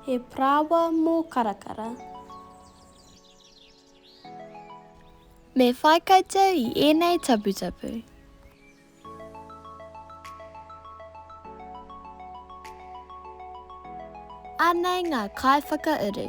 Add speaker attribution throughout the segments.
Speaker 1: He paraoa mō Karakara. Me whai koutou i ēnei taputapu. Anei ngā kaiwhakauru.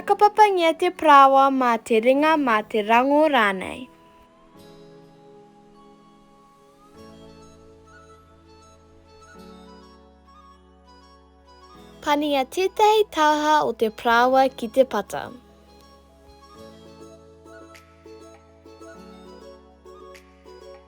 Speaker 1: Whakapapangia te parāoa mā te ringa, mā te rangō rānei. Pania tētahi tāha o te parāoa ki te pata.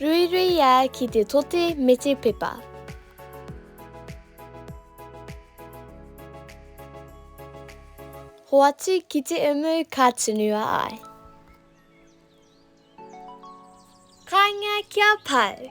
Speaker 1: Ruiruia ki te tote me te pepa. Hoatu ki te umu ka tunua ai. Kainga kia pau!